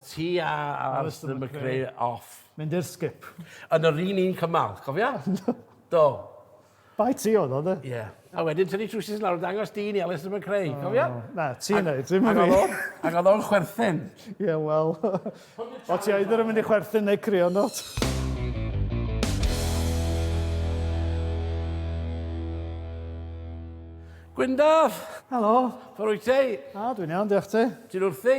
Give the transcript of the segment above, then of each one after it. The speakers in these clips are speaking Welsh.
Ti a Alistair McRae off. Mynd i'r sgip. Yn yr un un cymal, cofia? Do. Bai ti oedd o, de? Ie. A wedyn tynnu trwsus lawr a dangos dyn i Alistair McRae, oh, cofia? Na, ti'n neud, ti'n mynd i. Ac oedd o'n chwerthin. Ie, yeah, wel. o ti oedd yn mynd i chwerthin neu crio not. Gwyndaf! Helo! Fforwyt ti? A, dwi'n iawn, diolch ti. Ti'n wrthi?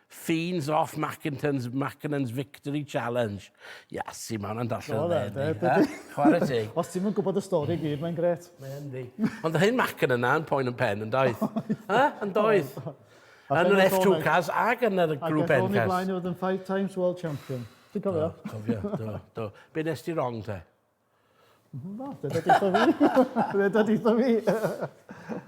Fiends of Mackinton's Mackinnon's Victory Challenge. Iasu, mae hwnna'n darllen yn dda, yndi? Chwarae teg. Chwarae teg. Os ti'm yn gwybod y stori i gyd, mae'n gret. Mae yn di. Ond yr hyn Mackinnon yna yn poen yn pen, yn doedd? Ha? Yn doedd? Yn yr F2 cas ac yn yr grŵp N cas. Ac yn y blaen oedd yn five times world champion. Ti'n cofio? Do, cofio, do, do. Be nes ti wrong te? Na, fe dod eitha fi. Fe dod eitha fi.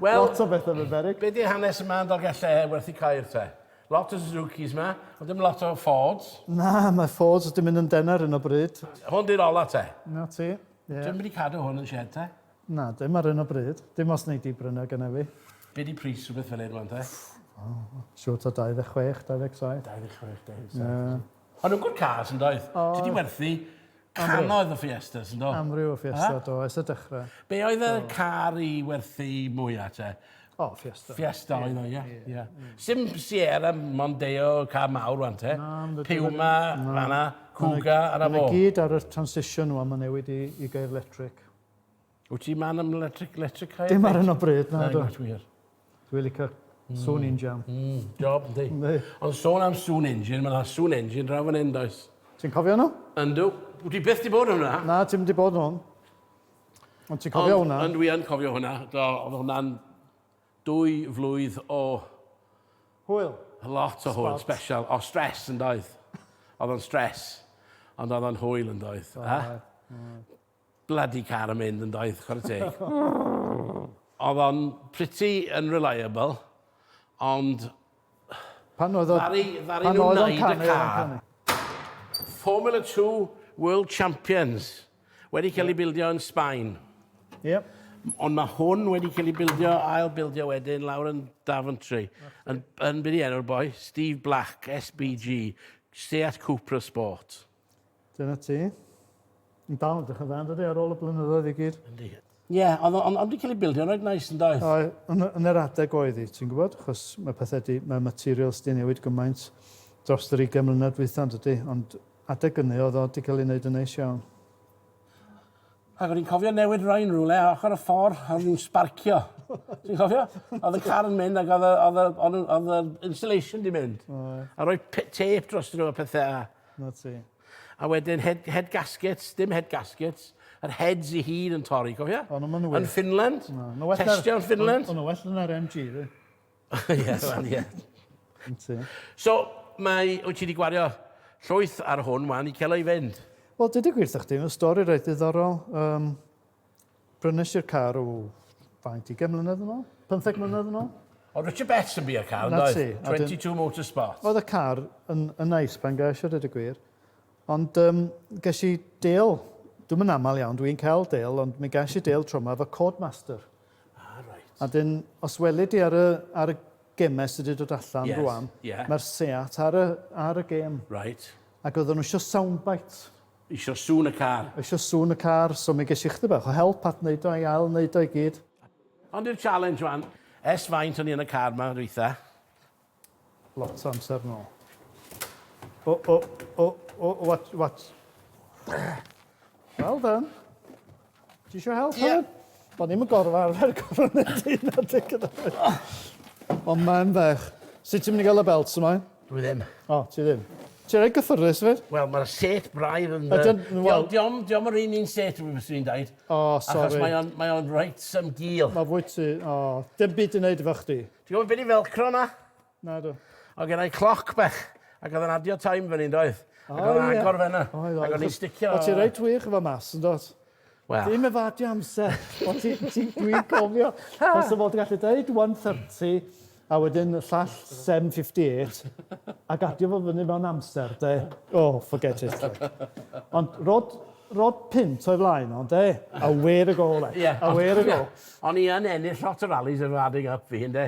Wel... Lot o bethau yn beryg. Be di hanes yma yn Dolgelle werth i cael te? Lot o Suzukis yma, ond dim lot o Fords. Na, mae Fords wedi mynd yn dena ar hyn o bryd. Hwn di'r ola te? Na ti. Yeah. Dwi'n mynd i cadw hwn yn shed te? Na, dim ar hyn o bryd. Dim os neu di brynu gyda fi. Be di pris rhywbeth fel hyn rwan te? Oh, siwt o 26, 27. 26, 27. Yeah. Ond yn good cars yn doedd? Ti wedi werthu cannoedd o Fiestas yn do? Amryw o Fiesta do, ers y dechrau. Be oedd y car i werthu mwyaf te? O, Fiesta. Fiesta oedd o, ie. ie. Sim Sierra, Mondeo, car mawr wan te. Puma, fanna, Cougar, yna fo. Mae'n gyd ar y transition wan, mae'n newid i, i gair electric. Wyt ti man am electric, electric car? Dim ar hyn o bryd, na do. Dwi'n wir. Dwi'n licio mm. sŵn mm. injan. Mm, job, di. Ond sôn am sŵn injan, mae yna sŵn injan draw fan hyn, does. Ti'n cofio nhw? Yndw. Wyt ti beth di bod hwnna? Na, ti'n di bod hwn. Ond ti'n cofio hwnna? Ond dwi yn cofio hwnna. Do, oedd hwnna'n dwy flwydd o... Hwyl. Lot o hwyl, special. O, stres yn doedd. Oedd o'n stres. Ond oedd o'n hwyl yn doedd. Oh, eh? Blydi car yn mynd yn doedd, chwarae teg. Oedd o'n pretty unreliable, ond... Pan oedd o... Ddaru nhw wneud y car. Formula Two World Champions, wedi cael ei bildio yn Sbaen. Ie. Ond mae hwn wedi cael ei bildio, ail bildio wedyn, lawr yn Daventry. Yn, yn byd i enw'r boi, Steve Black, SBG, Seat Cupra Sport. Dyna ti. Yn dal yn dechrau dda, yn dydi, ar ôl y blynyddoedd i gyd? Yndi. Ie, ond on, on, cael ei bildio'n rhaid nais yn doedd? O, yn, yn yr adeg oedd hi, ti'n gwybod, chos mae pethau di, mae materials di newid gymaint dros yr 20 mlynedd dwytha, yn dydi, ond adeg ynny oedd o di cael ei wneud yn neis iawn. Ac o'n i'n cofio newid rhain rhywle a ochr y ffordd a o'n i'n sbarcio. Ti'n cofio? Oedd y car yn mynd ac oedd y, oedd y, oedd y, oedd y installation di mynd. A rhoi tape dros nhw a pethau a... 'Na ti. A wedyn head, head gaskets, dim head gaskets, yr heads i hun yn torri, cofia? O, no, ma' nhw Yn wir. Finland, Na, ma' well na'r- testio yn Finland. O'n nhw well yn yr MG, dwi. Ie, wel, ie. Yn ti. So, mae, wyt ti wedi gwario llwyth ar hwn wan i cael o i fynd? Wel, dweud y gwir 'tha chdi, mae stori reit ddiddorol. Um, Prynes i'r car o faint, ugain mlynedd yn ôl? Pymtheg hmm. mlynedd yn ôl? O, Richard Betts yn bu'r car, yn oedd? 22 Motorsport. Oedd y car yn, yn neis pan gael ar y gwir. Ond um, ges i deal, dwi'n mynd aml iawn, dwi'n cael deal, ond mi ges i deal tro yma fy Codemaster. Ah, right. A dyn, os welid i ar y, ar y gemes sydd wedi dod allan yes, rwan, yeah. mae'r Seat ar y, ar y gem. Right. Ac oedden nhw eisiau soundbite. Isio sŵn y car. Isio sŵn y car, so mi ges i chydig bach o help at wneud o, i ail wneud o i gyd. Ond i'r challenge wan. Ers faint o'n i yn y car ma dwytha? Lot o amser yn ôl. O, o, o, o, watch, watch. Well done. Ti isio help Ie. hefyd? Do'n i'm yn gorfod arfer corona dy hunan te gyda O man bach. Sut ti'n mynd i ga'l y belts yma? Dwi ddim. O, ti ddim. Ti reit gyffyrddus fyd. Wel ma'r set braidd yn yy... Ydyn, wel... Di- diom diom yr un un set wi fyswn i'n deud. O sori. Achos mae o'n mae o'n reit yym gul. Ma' fwyt ti o dim byd i neud efo chdi. Ti gwbo be' 'di velcro na? Nadw. Oedd gennai cloc bach, ac oedd yn adio time fyny, yn doedd? Ac oedd yn agor fenna. Oedd, oedd. Ac o'n i'n sticio... O't ti reit wych efo maths, yn dod? Wel... Dim efo adio amser, ond ti, ti, dwi'n cofio. Os o fod yn gallu dweud 1.30, a wedyn y llall 7.58, ac adio fo fyny mewn amser, de? Oh, forget it. Ond rod, rod pint o'i flaen ond de? A wer y gol, e. Yeah. A wer y gol. O'n i yn ennill lot o rallies efo adding up fi, ynde?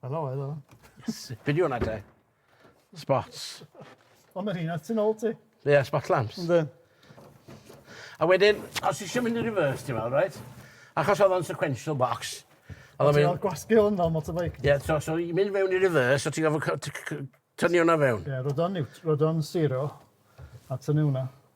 Helo, helo. Fideo hwnna te. Spots. O, mae rhywun at ti'n ôl ti. Ie, yeah, spot lamps. Ynddo. A wedyn, os eisiau mynd i reverse, ti'n meddwl, right? Achos oedd o'n sequential box. Oedd o'n mynd... gwasgu hwn fel motorbike. Ie, yeah, so, so i mynd mewn i reverse, so ti'n gofio tynnu hwnna fewn. Ie, yeah, rod o'n zero, a tynnu hwnna.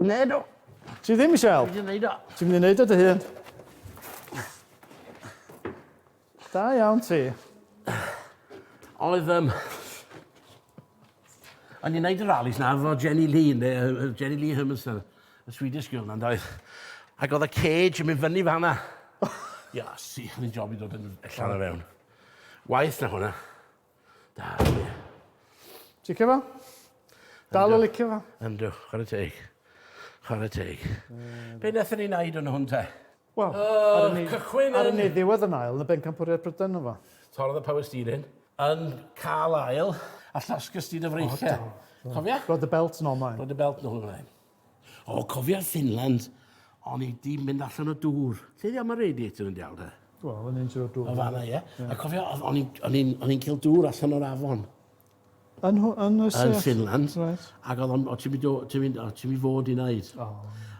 Nedo. Ti ddim eisiau help? Dwi'n neud o. Ti'n mynd i neud o dy hun? Da iawn ti. Oedd um, O'n i'n neud y rallies na fo Jenny Lee, ne, uh, Jenny Lee Hermanson, y Swedish girl na'n doedd. Ac oedd y cage yn mynd fyny fanna. Ia, si, oedd hi'n job i ddod yn allan o fewn. Waith na hwnna. Da, ie. Ti'n licio fo? Dal yn licio fo? Yndw, chwarae teg. Chwarae teg. Mm. Be wnaethon ni wneud yn hwn te? Wel, ar y cychwyn ar y ni ddiwedd yn ail yn y bencampwriaeth Brydain yma. Torrodd y power steering yn cael ail a llosgys di dy freichiau. Cofia? Rod y belt yn ôl mlaen. Rod y belt yn ôl mlaen. O, cofia Finland, o'n i di mynd allan o dŵr. Ti di am y radiator yn diawl da? Wel, o'n i'n siarad dŵr. O fanna, ie. A cofio, o'n i'n cael dŵr allan o'r afon. Yn, yn, yn Finland. Right. Ac oedd o'n, o ti'n mynd, ti'n mynd, o ti'n mynd fod i wneud. Oh.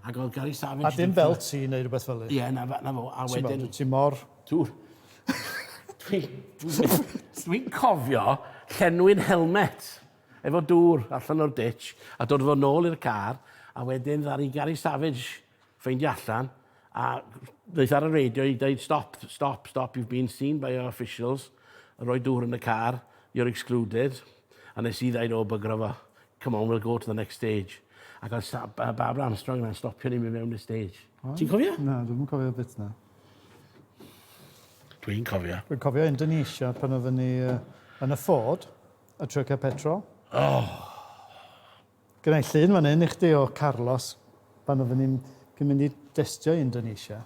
Ac oedd Gary Savage... A dim fel ti neu rhywbeth fel Ie, na, na fo. A wedyn... Ti mor... Tŵr. Dwi'n cofio llenwi'n helmet. Efo dŵr allan o'r ditch a dod a fo nôl i'r car a wedyn ddaru Gary Savage ffeindio allan a ddaeth ar y radio i ddeud stop, stop, stop you've been seen by our officials a rhoi dŵr yn y car you're excluded a nes i ddeud o bygwra fo come on we'll go to the next stage ac oedd Sa- yy Barbara Armstrong yna'n stopio ni mynd mewn i'r stage. Ti'n cofio? Na dwi'm yn cofio'r bit na. Dwi'n cofio. Dwi'n cofio Indonesia pan oedden ni yy yn y Ford. A tryca petrol. Oh! Gynna i llun fan hyn i chdi o Carlos pan oedden ni'n cyn mynd i destio i Indonesia.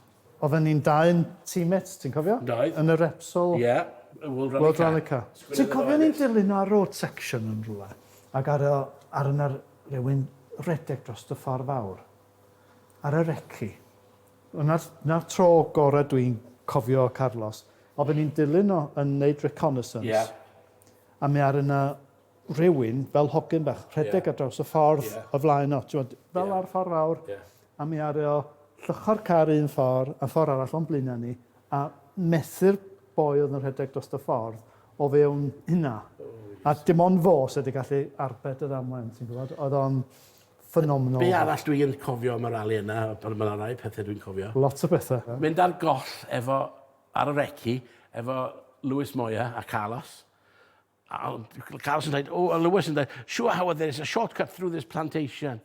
Oedden ni'n dau'n teammates, ti'n cofio? Doedd. Yn y Repsol... Ie, y World Rally Car. World Rally Car. Ti'n cofio ni'n dilyn ar road section yn rwle? Ac ar y... ar yna rhywun redeg dros y ffordd fawr. Ar y reci. Yna'r... na'r tro gorau dwi'n cofio Carlos. Oedden ni'n dilyn o yn neud reconnaissance. Ie. a mi aru 'na rywun, fel hogyn bach, rhedeg... Ie. ...ar draws y ffordd... Ie. ...o flaen o, t'mod... Ie. ...fel ar ffor fawr... Ie. ...a mi aru o lluchio'r car un ffor a ffor arall o'n blaena' ni a methu'r boi o'dd yn rhedeg drost y ffordd o fewn hynna. O reit. A dim ond fo sy 'di gallu arbed y ddamwen ti'n gwbod o'dd o'n ffenomenal. Be' arall dwi yn cofio am y rali yna o- on' ma' 'na rai pethe dwi'n cofio. Lot o bethe. Mynd ar goll efo Ar y reci efo Lewis Moya a Carlos. A ond Carlos yn dweud, o, a Lewis yn dweud, sure how there is a shortcut through this plantation.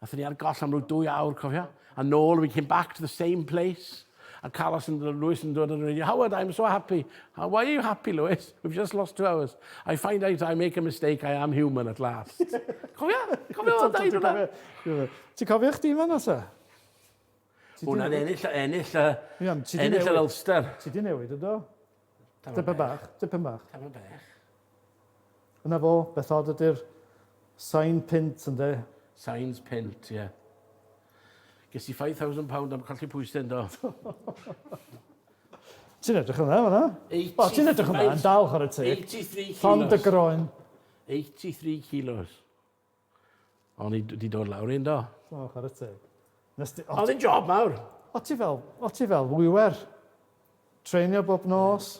Athyn ni ar goll am rhyw dwy awr, cofio? A nôl, we came back to the same place. A Carlos yn, Lewis yn dod yn radio, Howard, I'm so happy. How, why are you happy, Lewis? We've just lost two hours. I find out I make a mistake, I am human at last. cofio? Cofio o'n dweud hwnna? Ti'n cofio chdi fanna, sa? Hwna'n ennill, ennill, Iawn, ti 'di ennill yr newid. Ulster. Ti di newid, yndo? Tamaid Tipyn bach. bach, tipyn bach. Tamaid bach. Yna fo, beth od ydy'r sain pint, ynde? Sains pint, ie. Ges i £5,000 am colli pwysau, yndo? Ti'n edrych yn dda, fanna. O, ti'n edrych yn dda, yn dal, chwarae teg. 83 Llond dy kilos. groen. 83 kilos. O'n i wedi dod lawr un do. O, chwarae teg. Oedd yn job mawr. O ti fel, o ti fel wiwer. Treinio bob nos.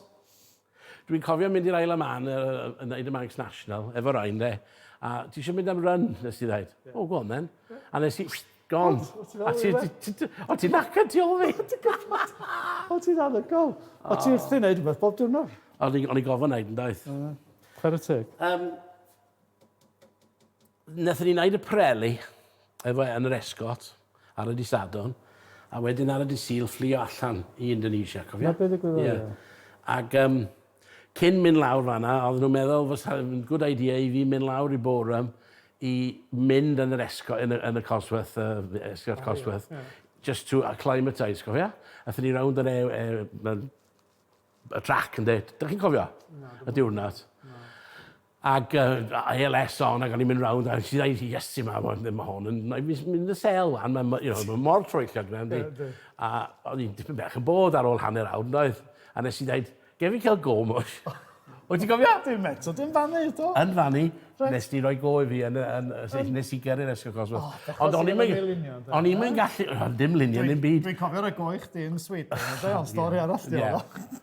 Dwi'n cofio mynd i'r Isle of Man yn neud y Manx National, efo Ryan de. A ti eisiau mynd am run, nes ti dweud. O, go on then. A nes i, gone. O ti'n nacad ti ôl fi. O ti'n anhygoel. O ti wrthi'n neud rhywbeth bob diwrnod. O'n i gofyn neud yn daith. Chwarae teg. Wnaethon ni wneud y preli efo e yn yr esgot ar y dy' Sadwrn a wedyn ar y dy' Sul fflio allan i Indonesia, cofia? 'Na be' ddigwyddodd ie. Ie. Ag yym cyn mynd lawr fan 'na oedden nhw'n meddwl fysa yn good idea i fi mynd lawr i Boreham i mynd yn yr esgo- yn y yn y Cosworth yy esgort oh, Cosworth yeah, yeah. just to acclimatise, cofia? Athon ni rownd yr e, e, y trac ynde. Dych chi'n cofio? Na, y diwrnod. Na. Ac yy ALS on ac o'n i'n mynd rownd a nes i ddeud Iesu mawr ma' ddim ma' hon yn ma' fi'n mynd yn sel wan ma' ma' you know ma' mor troell gyda fe yndi? Yndi. A o'n i'n dipyn bach yn bored ar ôl hanner awr yndoedd? A nes i ddeud gei fi ca'l go mush? Wyt ti'n cofio? Dim eto dim fan 'ny eto. Yn fan 'ny. Reit. Nes di roi go i fi yn y yn y sy- nes i gyrru'r esgor cosmos. O bechod. Ond o'n i'm yn... lunio ynde? O'n i'm yn gallu o dim lunio ddim byd. Dwi'n cofio roi go i chdi yn Sweden ynde? Ond stori arall 'di wnna. Ie.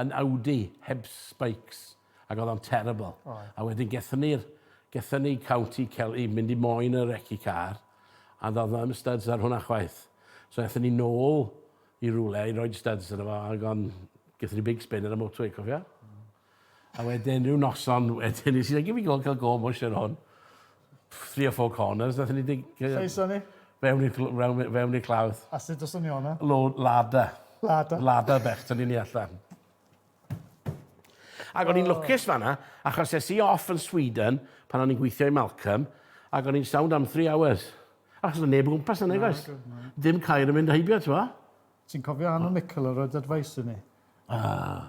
yn Audi heb spikes ac oedd o'n terrible. Oedd. A wedyn gethon ni'r gethon ni County Kel- i mynd i moyn y reci car a do'dd na ddim studs ar hwnna chwaith. So ethon ni nôl i rywle i roid studs arno fo ag o'n gethon ni big spin ar y motorway cofia? Hmm. A wedyn ryw noson wedyn nes i ddeud gimme go ca'l go am o Sharon. three or four corners, nath ni dig... Saeson ni? Fewn i'r cl- fewn, fewn i'r clawdd. A sut os o'n ni o'na? Lo, lada. Lada. Lada bech, tynnu ni allan. Ac o'n i'n lwcus fanna, achos es i off yn Sweden pan o'n i'n gweithio i Malcolm, ac o'n i'n sound am three hours. Achos o'n neb o gwmpas yna, guys. Dim cair yn mynd heibio, ti'n Ti'n cofio Anna Mickle, yr oedd advice i ni? Ah.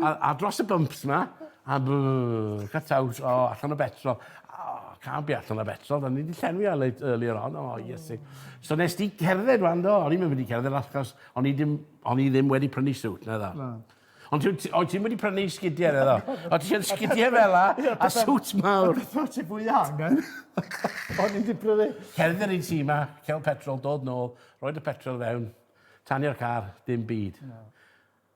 A a dros y bumps 'ma a brrr cut out o allan o betrol o can't be allan o betrol o'n i 'di llenwi ar late earlier on o iesu. So nes di cerdded ŵan do o'n i'm yn mynd i cerdded achos o'n i dim o'n i ddim wedi prynu siwt naddo. Na. Ond ti ti o't ti'm wedi prynu sgidie naddo? O't ti yn sgidie fela a siwt mawr. Beth o't ti fwy angen? O'n i 'di prynu... Cerdded yr un sy 'ma, ca'l petrol, dod nôl, roid y petrol fewn, tanio'r car, dim byd. Na.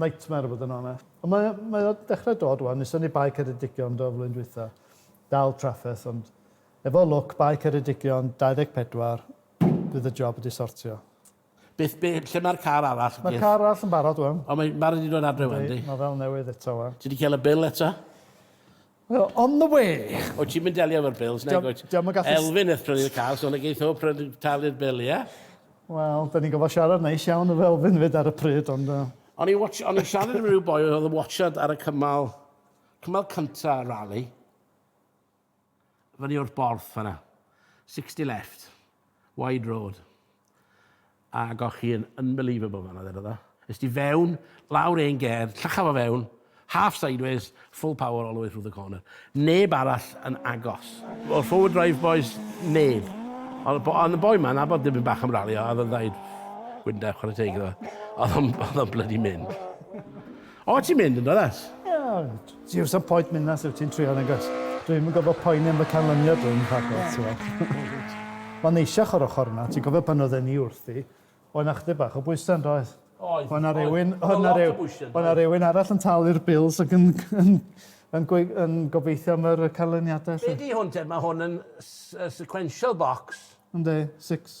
nightmare i fod yn onest. Ond mae o, mae o dechrau dod wan, nes o'n ni Bae Ceredigion do flwyddyn dwytha. Dal trafferth ond efo lwc Bae Ceredigion 24 bydd y job wedi sortio. Beth be lle mae'r car arall? Mae'r car arall yn barod wan. O mae ma' redi dod adre wan di? Yndi, ma' fel newydd eto wan. Ti di cael y bil eto? We're on the way! Wyt ti'n mynd delio efo'r bills, nag wyt? Diolch yn gallu... Elfyn eth prynu'r car, so na geith o pryd talu'r bil, ie? Wel, da ni'n gofod siarad neis iawn efo Elfyn fyd ar y pryd, ond... O'n i watch, o'n i siarad efo rhyw boi oedd yn watchad ar y cymal, cymal cynta rally. Fyny o'r borth fanna. 60 left. Wide road. Ag o'ch chi yn unbelievable fanna ddedodd o. Es ti fewn, lawr un ger, llachaf o fewn, half sideways, full power all the way through the corner. Neb arall yn agos. O'r forward drive bois, neb. Ond y boi ma, nabod dipyn bach am ralio, a oedd o'n dweud, Wynda, chwarae teg iddo fe. Oedd o'n blydi mynd. O, ti'n mynd yn does? Ie, ti wrth y poet mynd na sydd ti'n trio yn agos. Dwi'n mynd gofio poeni am y canlyniad dwi'n rhagor, ti'n fawr. Mae'n neisiach o'r ochr yna, ti'n gofio pan oedden ni wrthi, oedd yna chdi bach o bwysau yn doedd? Oedd, oedd, oedd yna rhyw, oedd yna rhywun arall yn talu'r bils ac yn, yn, yn, yn gobeithio am yr canlyniadau. Be di hwn te? Mae hwn yn sequential box. Ynddi, six.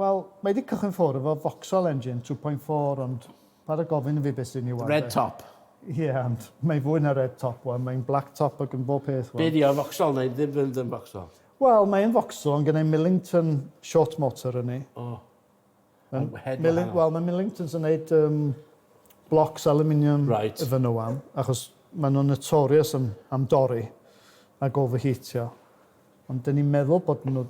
Wel, mae 'di cychwyn ffwr efo Vauxhall engine two point four ond paid a gofyn i fi be' sy' yn 'i wal 'de. Red top. Ie ond mae fwy na red top wan, mae'n black top ag yn bob peth wan. Be' 'di o, Vauxhall neu ddim fynd yn Vauxhall? Wel, mae yn Vauxhall ond gennai Millington short motor yn 'i. O. Ma'n head wahanol. Wel, mae Millingtons yn neud yym blocs aluminium... Reit. ...iddyn nhw wan achos ma' nhw'n notorious am am dorri ag overheatio. Ond dyn ni'n meddwl bod nhw,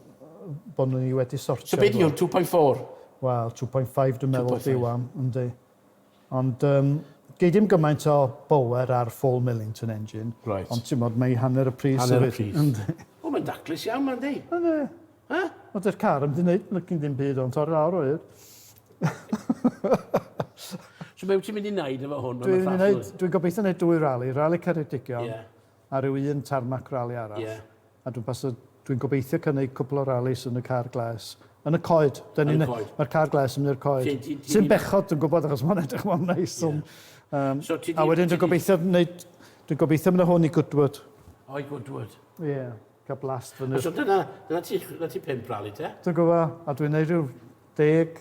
bod nhw wedi sortio... So be di hwn, two point four? Wel, two point five dwi'n meddwl ydi wan, yndi. Ond um, gei dim gymaint o bower ar full Millington engine. Right. Ond ti'n modd, mae hanner y pris. Hanner y pris. Yndi. O, mae'n daclus iawn, mae'n di. Yndi. Ha? Ond dy'r car yn mynd i lygyn dim byd o'n torri lawr o'r. so be wyt ti'n mynd i wneud efo hwn? Dwi'n gobeithio wneud dwy rali, rali Ceredigion. Yeah. ar ryw un tarmac rali arall, a dwi'n pasio, dwi'n gobeithio cynnig cwpl o ralis yn y car gles, yn y coed, dan ni'n, mae'r car gles yn mynd i'r coed, sy'n bechod dwi'n gwybod achos mae'n edrych mor neis, ond, um, so, a wedyn dwi'n gobeithio wneud, dwi'n gobeithio mynd â hwn i Goodwood. O, i Goodwood. Ie. Yeah cael blast fyny. So dyna, dyna ti, dyna ti pimp rali te? Dwi'n gwybod, a dwi'n neud rhyw deg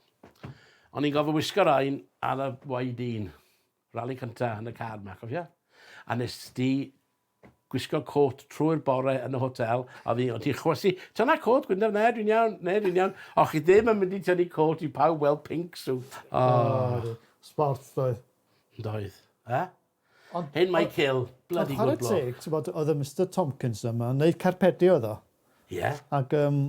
O'n i'n gofio wisgo rain ar y YD1. Rali cynta yn y car 'ma, cofio? A nes di gwisgo côt trwy'r bore yn y hotel, a fi, o ti'n chwysu, tyna côt, Gwyndaf, ne, dwi'n iawn, ne, dwi'n iawn. O, chi ddim yn mynd i tynnu côt i pawb weld pink suit. O. Sport, doedd. Doedd. E? Ond... Hen Michael, bloody good bloke. Ond chwarae teg, t'bod, oedd y Mister Tomkins yma, yn neud carpedi oedd o. Ie. Ac um,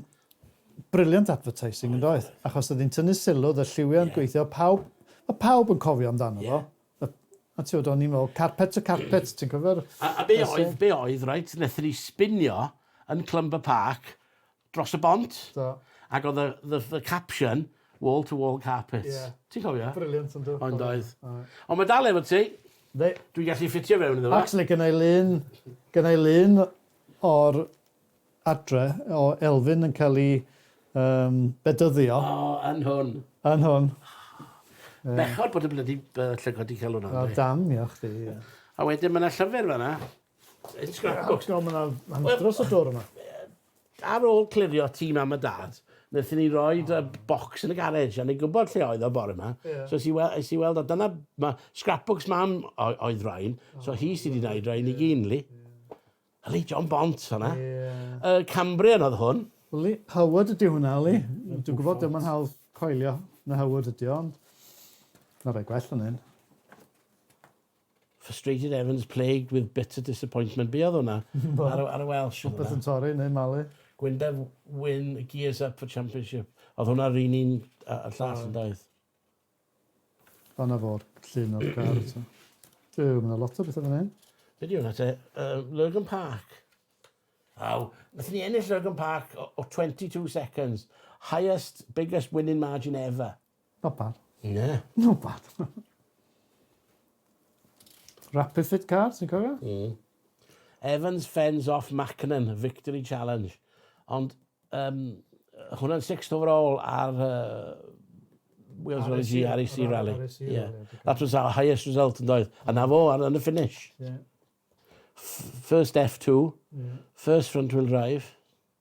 brilliant advertising yn doedd, achos oedd hi'n tynnu sylw, oedd y lliwiau'n yeah. gweithio, pawb, mae pawb yn cofio amdano yeah. fo. A ti oedd o'n i'n meddwl, carpet to carpet, ti'n cofio'r... A, a be oedd, be oedd, right, nethon ni spinio yn Clumber Park, dros y bont. Do. Ac oedd y the the caption wall to wall carpet. Ie. Ti'n cofio? Brilliant yndw. Oedd doedd. Oedd. Ond ma' dal efo ti. Yndi. Dwi'n gallu ffitio fewn iddo fo. Actually gynna i lun gynna i lun o'r adre o Elfyn yn cael i um, bedyddio. O, oh, yn hwn. Yn hwn. Oh, bechod bod y blydi uh, llygod di cael hwnna. O, dam, ia chdi. A wedyn mae yna llyfr fanna. Yn scrapbook. Ti'n gwybod, mae yna dros y dwr yma. Ar ôl clirio tîm am y dad, wnaethon ni roi y bocs yn y garej, a ni'n gwybod lle oedd o bore yma. So es i, wel, es i weld, a dyna, mae scrapbooks mam oedd rhain, so hi sydd wedi gwneud rhain i gyn, li. Li, John Bont, hwnna. Y Cambrian oedd hwn. Li, Howard ydy hwnna, li. Dwi'n gwybod, dyma'n hawl coelio na Howard ydy o, ond... Na fe, gwell yn hyn. Frustrated Evans plagued with bitter disappointment. Be oedd hwnna? ar, ar y Welsh. Popeth yn torri neu malu. Gwyndev win gears up for championship. Oedd hwnna rhywun un a, a llall yn daeth. Fanna fo'r llun o'r car. Yw, mae yna lot o bethau fan hyn. Be di hwnna te? Uh, Lurgan Park. Aw, nath ni ennill Lurgan Park o, o 22 seconds. Highest, biggest winning margin ever. Not bad. Na. Not bad. Rapid Fit Car, ti'n cofio? Mm. Evans fends off Mackinnon, victory challenge. Ond um, hwnna'n sixth overall ar uh, Wales Rally G, REC Rally. Yeah. That was our highest result yn doedd. A na fo, ar y finish. Yeah. First F2, yeah. first front wheel drive,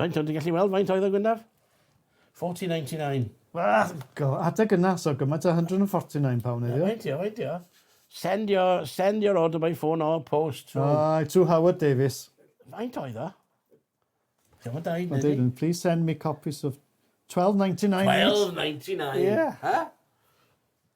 Faint o'n ti'n gallu weld faint oedd y gwynaf? 40.99. Well, go, adeg yna, so gymaint o £149 heddiw. Faint dio, faint dio? Send your, send your order by phone or post. To... Uh, to Howard Davis. Faint oedd o? Ti'n fawr daid, nid i? Please send me copies of 12.99. 12.99? Yeah. Huh?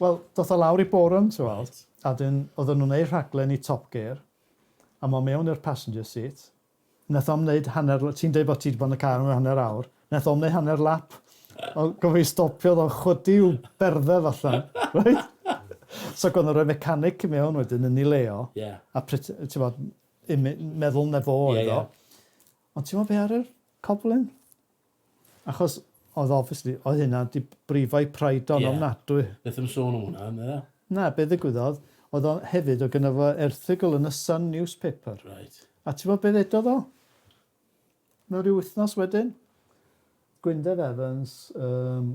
Wel, doth o lawr i Borum, ti weld. Reit. A 'dyn odden nhw'n neud rhaglen i Top Gear, a m'o mewn i'r passenger seat, nath o'm neud hanner l- ti'n deud bo' ti 'di bod yn y car am ryw hanner awr, nath o'm neud hanner lap, o- gofio i stopio o'dd o'n chwydu i'w berddew allan, reit? So gor'o' nhw roi mechanic i mewn wedyn yn 'i le o. Ie. A pret- yy ti wbod, imi- meddwl 'na fo oedd o. Ie ie. Ond ti wbod be' ar yr coblyn? Achos oedd obviously, oedd hynna wedi brifo'i pride o'n ofnadwy. Ie, beth am sôn am hwnna, ynde? Na, be ddigwyddodd, oedd o hefyd, oedd gynno fo erthygl yn y Sun newspaper. Reit. A ti'n gwybod be ddedodd o? Mewn rhyw wythnos wedyn? Gwyndaf Evans, um,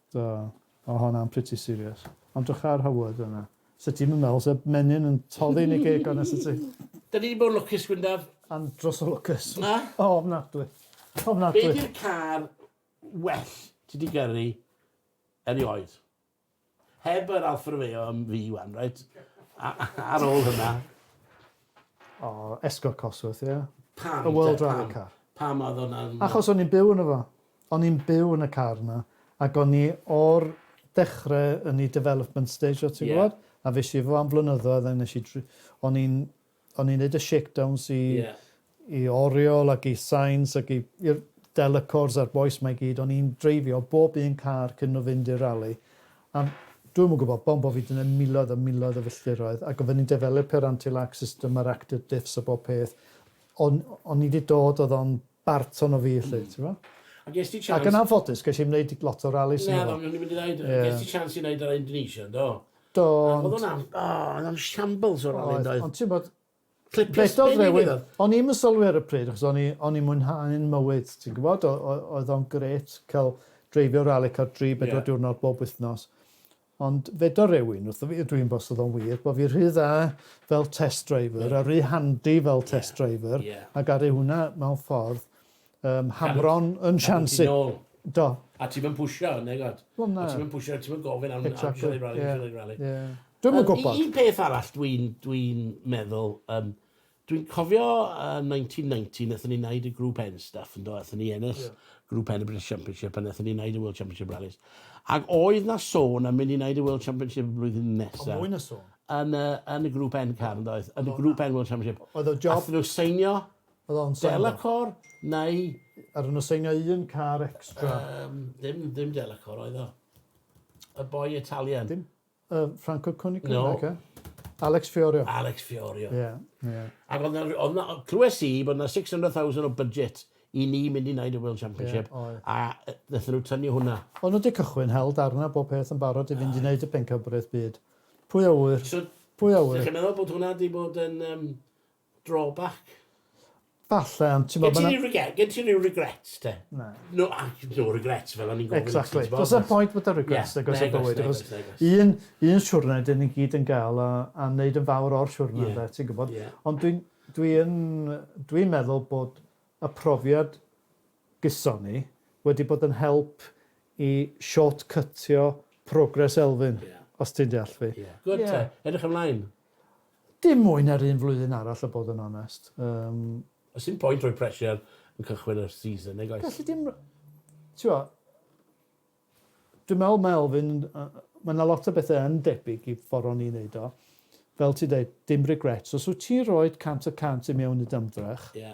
Do, o honna'n pretty serious. Ond drych ar Howard yna. Sa ti'm yn meddwl sa menyn yn toddi yn ei geg o na sa ti? Da ni 'di bod yn lwcus, Gwyndaf. Andros o lwcus. Na? O, ofnadwy. Ofnadwy. Be di'r car well ti 'di gyrru erioed? Heb yr Alfa Romeo am fi wan, reit? A- a- ar ôl hynna. O, Escort Cosworth, ie. Pam? Y World Rally Car. Pam oedd hwnna'n... Achos o'n i'n byw yno fo. O'n i'n byw yn y car 'na ac o'n i o'r dechre yn i development stage o ti'n gwbod? Ie. A fues i efo fo am flynyddoedd a nesh i dri- o'n i'n o'n i'n neud y shakedowns i Ie. i Oriel ac i Sainz ac i i'r Delacours a'r bois 'ma i gyd o'n i'n dreifio bob un car cyn n'w fynd i'r rali a dwi'm yn gwbod pam bo' fi 'di neud miloedd a miloedd o filltiroedd ac odden ni'n developu'r anti-lack system a'r active diffs a bob peth o'n o'n i 'di dod o'dd o'n Barton o fi 'lly t'mo'. A ges ti chance... Ac yn anffodus ges i'm neud lot o ralis ynddo fo. Naddo, o'n i'n mynd i ddeud, ges ti chance i neud y Indonesia, do? Do, ond... O'dd o'n am- o, o'dd o'n shambles o rali yndoedd? Oedd, ond ti'mbod... Clipiau sbin i gyd oedd. O'n i'm yn sylwi ar y pryd achos o'n i o'n i'n mwynhau'n mywyd ti'n gwbod o- o- oedd o'n grêt ca'l dreifio rali car dri bedwar diwrnod bob wythnos Ond fedo rewyn wrtho fi, ydw i'n bost oedd o'n wir, bo fi rhy dda fel test driver a rhy handi fel test driver a garu hwnna mewn ffordd um, hamron yn siansi. Cadw ti nôl. Do. A ti'm yn pwysio, neu god. Wel na. A ti'm yn pwysio, ti'm yn gofyn am exactly. am siarad rali, yeah. siarad rali. Yeah. Dwi'm yn gwybod. Un peth arall dwi'n dwi meddwl, um, Dwi'n cofio yn 1990, wnaethon ni wneud y Group N stuff, yndo? Wnaethon ni ennill yeah. Group N y British Championship, a wnaethon ni wneud y World Championship Rallies. Ac oedd na sôn am mynd i wneud y World Championship y flwyddyn nesaf. O, mwy na sôn. Yn, uh, yn y Group N car, yndo? Yn y Group N World Championship. Oedd o job... Athyn nhw seinio Delacor neu... Athyn nhw seinio un car extra. Um, dim, dim Delacor oedd o. Y boi Italian. Dim Yy Franco Cunico? No. Naci? Alex Fiorio. Alex Fiorio. Ie, ie. Ac oedd 'na, oedd 'na, clywes i bod 'na 600,000 o budget i ni mynd i wneud y World Championship, oedd. a yy naethon nhw tynnu hwnna. O'n nhw 'di cychwyn hel darna bob peth yn barod i fynd i wneud y Pencampwriaeth Byd. Pwy a ŵyr? So, Pwy a ŵyr? dach chi'n meddwl bod hwnna 'di bod yn yym Drawback. Falle, ond t'mod ma' 'na... Gen ti ryw rege- gen ti ryw regrets te? Na. No a- no regrets fel o'n i'n gofyn i ti t'mod... Exactly. Do's 'na'm point bod 'da regrets nag oes yn bywyd achos un un siwrne 'dyn ni gyd yn ga'l a a neud yn fawr o'r siwrne ynde ti'n gwbod? Ond dwi'n dwi yn dwi'n meddwl bod y profiad gyson ni wedi bod yn help i short cytio progress Elfyn os ti'n deall fi. Ie. Good te. Edrych ymlaen. Dim mwy na'r un flwyddyn arall a bod yn onest. Yym. Does dim pwynt rhoi pressure yn cychwyn y season nag oes? Galli di'm... T'mo', dwi'n meddwl mae Elfyn yn yy mae 'na lot o bethe yn debyg i ffor o'n i'n neud o. Fel ti'n deud, dim regrets. Os wyt ti'n rhoid cant y cant i mewn i dy ymdrech... Ie.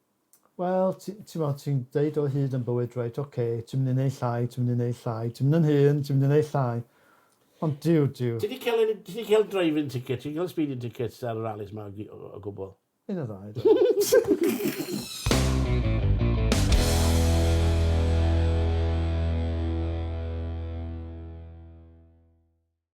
Wel, ti- t'mod, ti'n deud o hyd yn bywyd, reit, ocê, ti'n mynd i neud llai, ti'n mynd i neud llai, ti'n mynd yn hŷn, ti'n mynd i neud llai. Ond Duw, Duw. Ti 'di cael un... ti 'di cael driving ticket, ti 'di cael speeding tickets ar y rallies 'ma o gy- o- o gwbl? Un neu ddau, do.